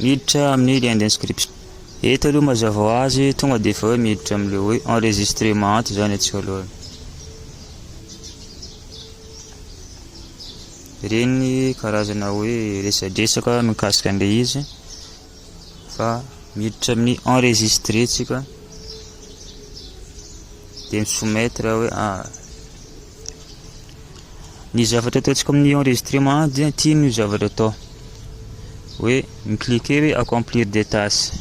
Miditra amin'ny lien d'inscription. Eto aloha mazava ho azy, tonga dia efa hoe miditra amin'ilay hoe enregistrement izany atsy voalohany. Ireny karazana hoe resadresaka mikasika an'ilay izy fa miditra amin'ny enregistré tsika dia misoumettre hoe ah Ny zavatra ataontsika amin'ny enregistrement dia ity no zavatra atao hoe mi-cliquer hoe accomplir des tâches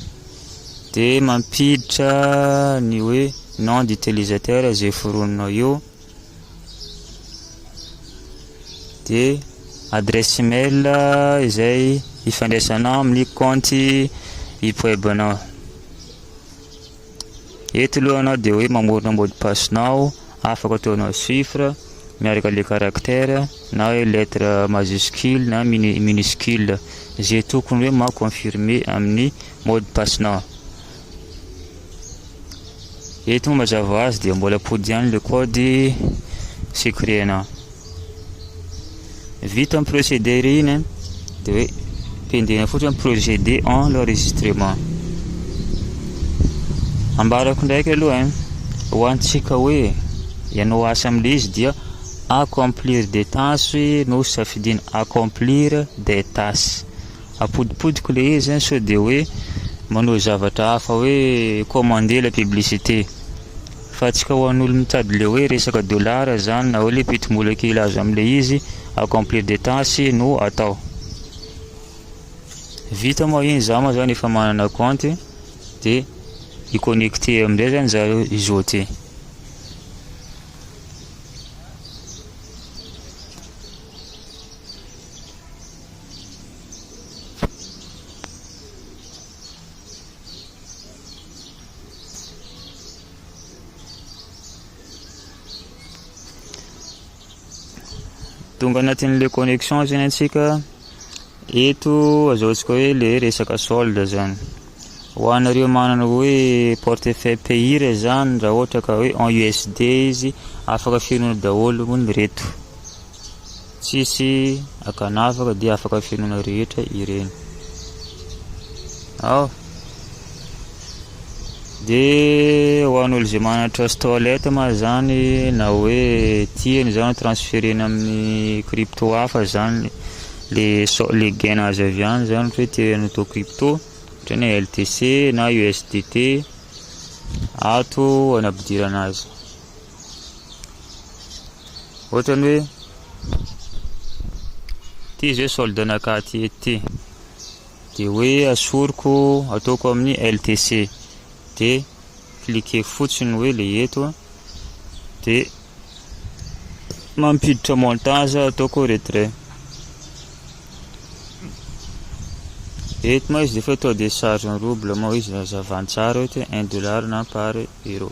dia mampiditra ny hoe nom d'utilisateur izay foroninao eo dia adresse email izay ifandraisanao amin'ny kaonty ipwebanao Eto loha nao dia hoe mamorona mot de passe nao, afaka ataonao chiffre miaraka le caractère na hoe lettre majuscule na minuscule ze tokony hoe ma confirmer amin'ny mot de passe nao. Eto moa mazava azy dia mbola pody ihany le code secret nao. Vita ny procédé re iny dia hoe pendena fotsiny procédé en l'enregistrement. Ambarako ndraiky aloha hein. Ho antsika hoe ianao asa amin'ilay izy dia accomplir des tâches no safidiana accomplir des tâches. Apodipodiko ilay izy sao dia hoe manao zavatra hafa hoe commander la publicité. Fa tsy ka ho an'olo mitady le hoe resaka dollars zany na hoe le pitimbola kely azo amle izy accomplir des tâches no atao. Vita moa iny za moa zany efa manana compte de i connecter amizay zany za izote. tonga anatin'le connexion zany antsika eto azaontsika hoe le resaka solde zany ho anareo manana hoe portefeuille payir zany raha ohatra ka hoe en usd izy afaka fenona daholo hono reto Tsisy akanavaka dia afaka fenoina rehetra ireny. Ao. Dia ho an'olo izay manana trust wallet ma zany na hoe tiany zany transferena amin'ny crypto hafa zany le le gain azo avy any zany hoe tiany ho atao crypto ohatrany hoe LTC na USDT ato any ampidirana azy. Ohatrany hoe ty izy hoe solde nakaty ety dia hoe asoriko ataoko amin'ny LTC dia cliquer fotsiny hoe le eto dia mampiditra montage ataoko retrait eto ma izy dia fa eto dia charge en rouble ma izy raha zavan-tsara eto un dollar na par euro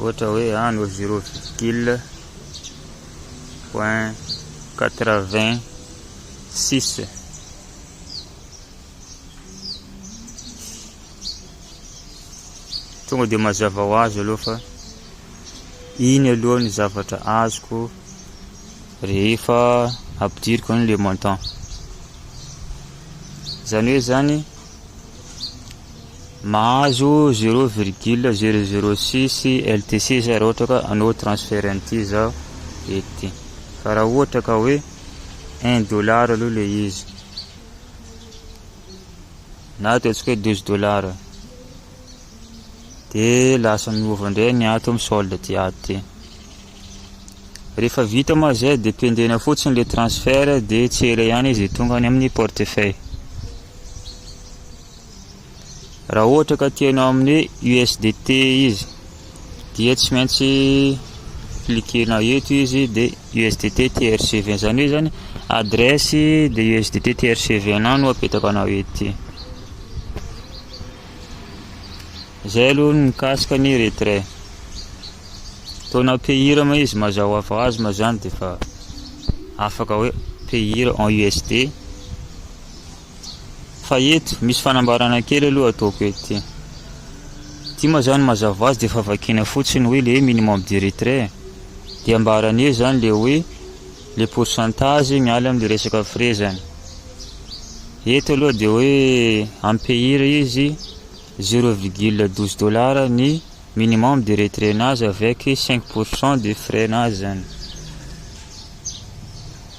ohatra hoe any ah, zero virgule point quatre vingt six tonga dia mazava ho azy aloha fa iny aloha ny zavatra azoko rehefa ampidiriko an'ilay montant Izany hoe izany, mahazo zéro virgule zéro zéro six LTC zay raha ohatra ka hanao transfert an'ity zaho ety. Fa raha ohatra ka hoe un dollar aloha le izy, na ataontsika hoe douze dollars, dia lasa miova indray ny ato amin'ny solde aty ato ty. Rehefa vita moa izay dia pendena fotsiny ilay transfert dia tsy ela ihany izy tonga any amin'ny portefeuille. Raha ohatra ka tianao amin'ny USDT izy dia tsy maintsy cliquena eto izy dia USDT TRCV izany hoe izany adresse dia USDT TRCV anao no apetaka anao ety. Zay aloha ny mikasika ny retrait. Toa na payir ma izy mazao avaz ma zany dia fa afaka hoe payir en USD. Fa eto misy fanambarana kely aloha ataoko eto ty. Ty ma zany mazava azy dia fa vakina fotsiny hoe le minimum de retrait. Dia ambarany eo zany le hoe le pourcentage miala amle resaka frais zany eto aloha de hoe ampehira izy zero virgule douze dollar ny minimum de retrait nazy avec cinq pourcent de frais nazy zany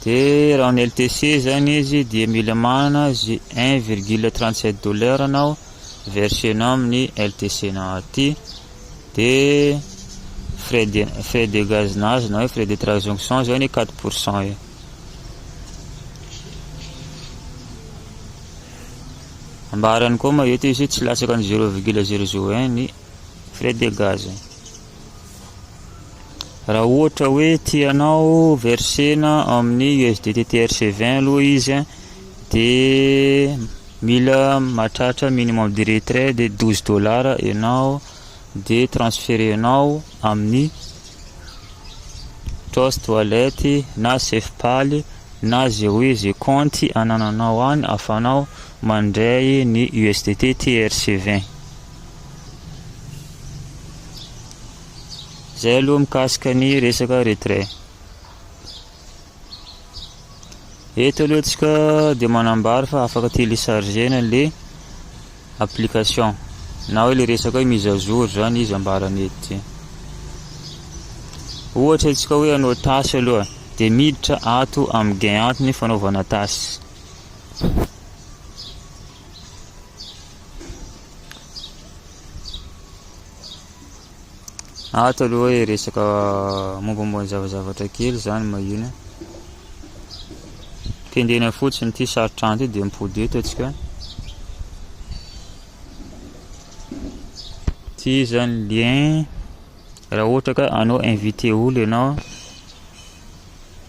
de raha ny LTC zany izy de mila manana zy un virgule trente sept dollar nao verser nao amin'ny LTC nao aty dia frais de frais de gaz nazy na hoe frais de transaction zao ny 4 pour cent io ambarany koa ma eto izy tsy latsaka ny 0,01 ny frais de gaz raha ohatra hoe tianao versena amin'ny USDT TRC20 aloha izy dia Mila mahatratra minimum de retrait dia douze dollars ianao dia transferer-nao amin'ny Trust Wallet na Safepal na ze hoe ze kaonty anananao any ahafahanao mandray ny USDT TRC vingt. Zay aloha mikasika ny resaka retrait. Eto aloha tsika dia manambara fa afaka télécharger-na ilay application na hoe ilay resaka hoe mise à jour izany izy ambarany eto. Ohatra tsika hoe hanao tâche aloha dia miditra ato amin'ny gain ato ny fanaovana tâche. Ato aloha hoe resaka mombamomba ny zavazavatra kely izany mahina. Kendrena fotsiny ity sarotrano ity dia mipody eto atsika. Ity izany lien raha ohatra ka anao invité olo ianao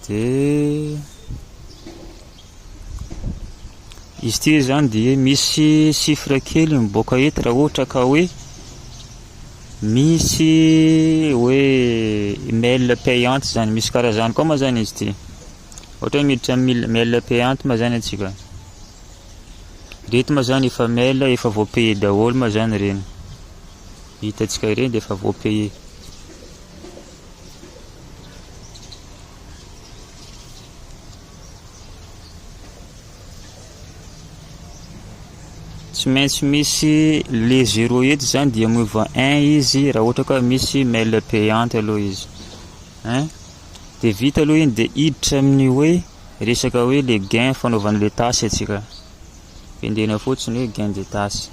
dia Izy ity izany dia misy chiffre kely miboaka eto raha ohatra ka hoe misy hoe mail payante izany, misy karazany koa ma zany izy ity. Ohatra hoe miditra amin'ny mail payante ma zany atsika. Ireto ma zany efa mail efa voapaye daholo ma zany ireny. Hitantsika ireny dia efa voapaye. tsy maintsy misy le zero eto zany dia miova un izy raha ohatra ka misy mail payante aloha izy hein dia vita aloha iny dia hiditra amin'ny hoe resaka hoe le gain fanaovana le tasy atsika pendena fotsiny hoe gain de tasy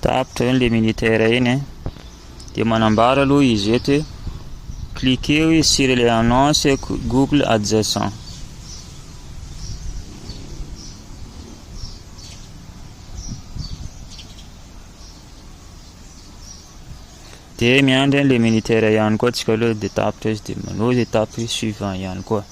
tapitra eny le militaire eny eh. dia manambara aloha izy eto hoe cliquez izy sur les annonces google adjacent dia miandry an'ilay militaire ihany koa tsika aloha dia tapitra izy dia manao izay tapitra suivant ihany koa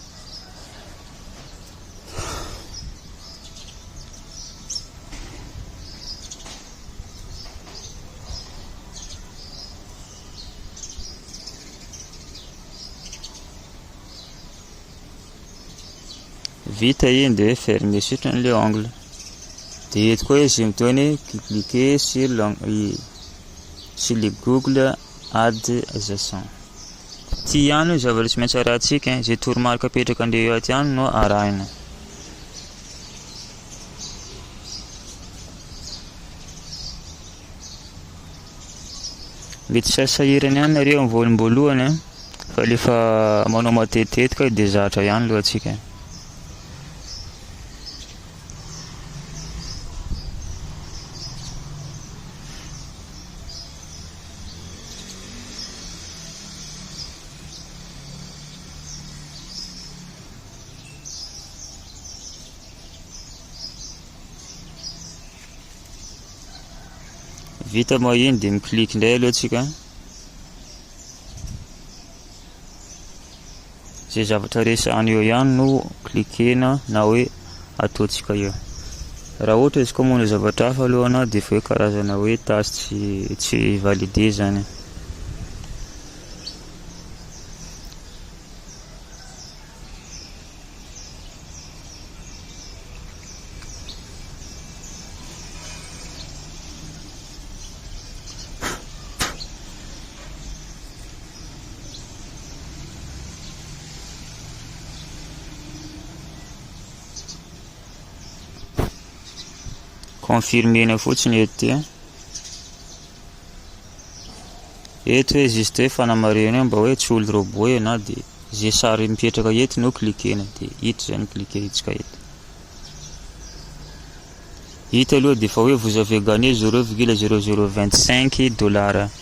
vita iny dia fermer sitrany le ongle dia eto koa izy miteny cliquer sur l'ongle sur le google Ad Jason. Ity ihany no zava-nisy maintsy arahintsika, izay toromarika apetraka andeha ho aty ihany no arahina. Mety tsy sahirana ihany nareo amin'ny voaloham-boalohany eh, fa rehefa manao matetitetika io dia zatra ihany lohantsika. vita moa iny dia mi-click indray aloha tsika Izay zavatra resahana eo ihany no cliquer-na na hoe ataontsika eo. Raha ohatra izy koa manao zavatra hafa aloha anao dia efa hoe karazana hoe tâche tsy tsy validé izany. Confirmer-na fotsiny eto dia. Eto hoe juste hoe fanamarihana hoe mba hoe tsy olo robot ianao dia izay sary mipetraka eto no cliquer-na dia hita izay ny cliquer-ntsika eto. Hita aloha dia efa hoe vous avez gagné 0,0025 dollars.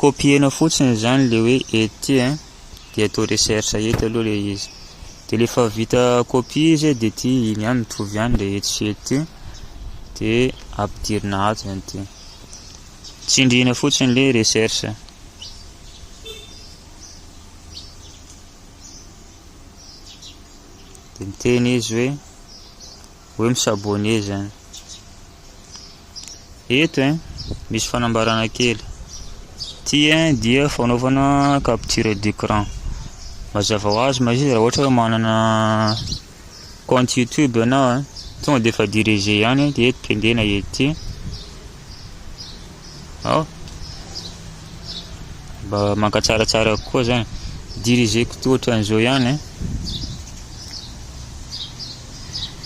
Copier-na fotsiny izany le hoe ety a, dia atao recherche eto aloha le izy, dia rehefa vita copie izy a, dia ity iny ihany mitovy ihany le etsy sy ety ity, dia ampidirina ato izany ity, tsindriana fotsiny le recherche. Dia miteny izy hoe. hoe mi s'abonner zany eto hein misy fanambarana kely ty hein dia fanaovana capture d'écran mazava ho azy mazia raha ohatra hoe manana compte youtube ianao hein tonga dia efa diriger ihany hein dia eto pendena eto ty ao mba mankatsaratsara kokoa zany diriger ko toa ohatran'izao ihany hein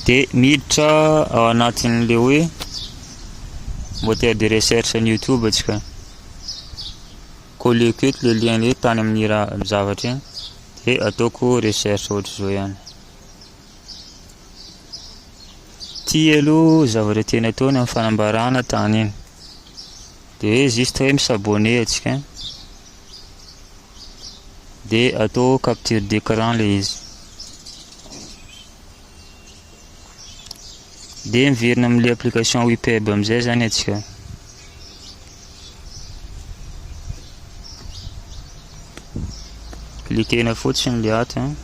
dia miditra ao anatin'le hoe moteur de recherche ny youtube atsika collieko eto le lien le tany amin'ny raha zavatra iny dia ataoko recherche ohatr'izao ihany ty aloha zavatra tena ataony amin'ny fanambarana tany iny dia hoe juste hoe misabone atsika de atao capture d'écran le izy de miverina amle application wipeb amizay zany atsika likena fotsiny le ato hein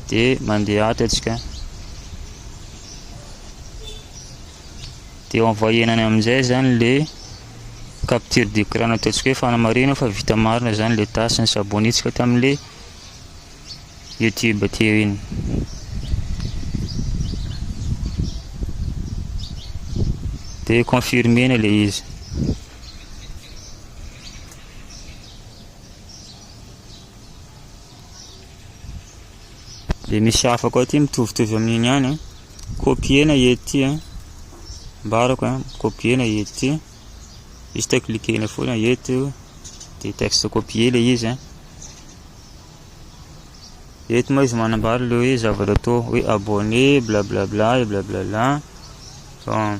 de mandeha ato atsika de envoyena amizay zany le capture d'écran nataontsika hoe fanamarihana fa vita marina izany ilay tâche ny s'abonner-tsika tamin'ilay YouTube teo iny. Dia confirmer-na ilay izy. Dia misy hafa koa aty mitovitovy amin'iny ihany a. Copier-na ety a. Ambarako a, copier-na ety. Juste cliquer-na foana eto dia texte copier ilay izy a. Eto moa izy manambara ilay hoe zavatra atao hoe abonné, blablabla, blablabla. Bon.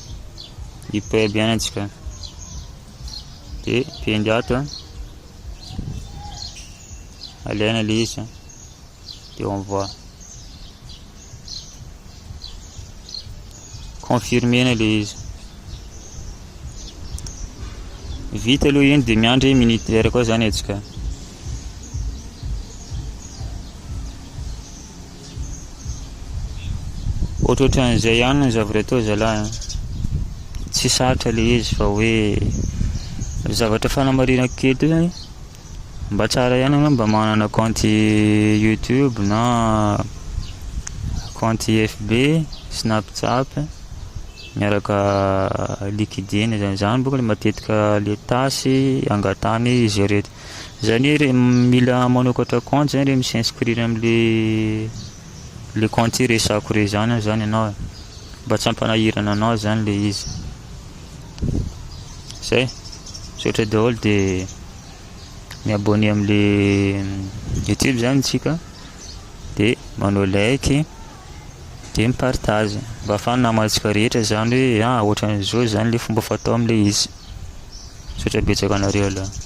i Peb ihany antsika dia pendy ato a alaina le izy dia on voit confirmena le izy vita aloha iny dia miandry minute iray koa zany atsika Ohatrohatran'izay ihany ny zavatra atao zalahy a! Tsy sarotra le izy fa hoe zavatra fanamarinako kely ty zany mba tsara ihany anao mba manana kaonty youtube na kaonty FB, snapchat, miaraka liquidine zany, zany boka matetika le tâche angatahany izy reto. Zany hoe re mila manokatra compte zany re mi s'inscrire amle le compte resako re zany zany ianao e mba tsy ampanahirana anao zany le izy zay misaotra daholo de mi abonné amle youtube zany tsika de manao like de mipartage mba afany namantsika rehetra zany hoe a ah, ohatran'izao zany le fomba fatao amle izy misaotra betsaka anareo aloha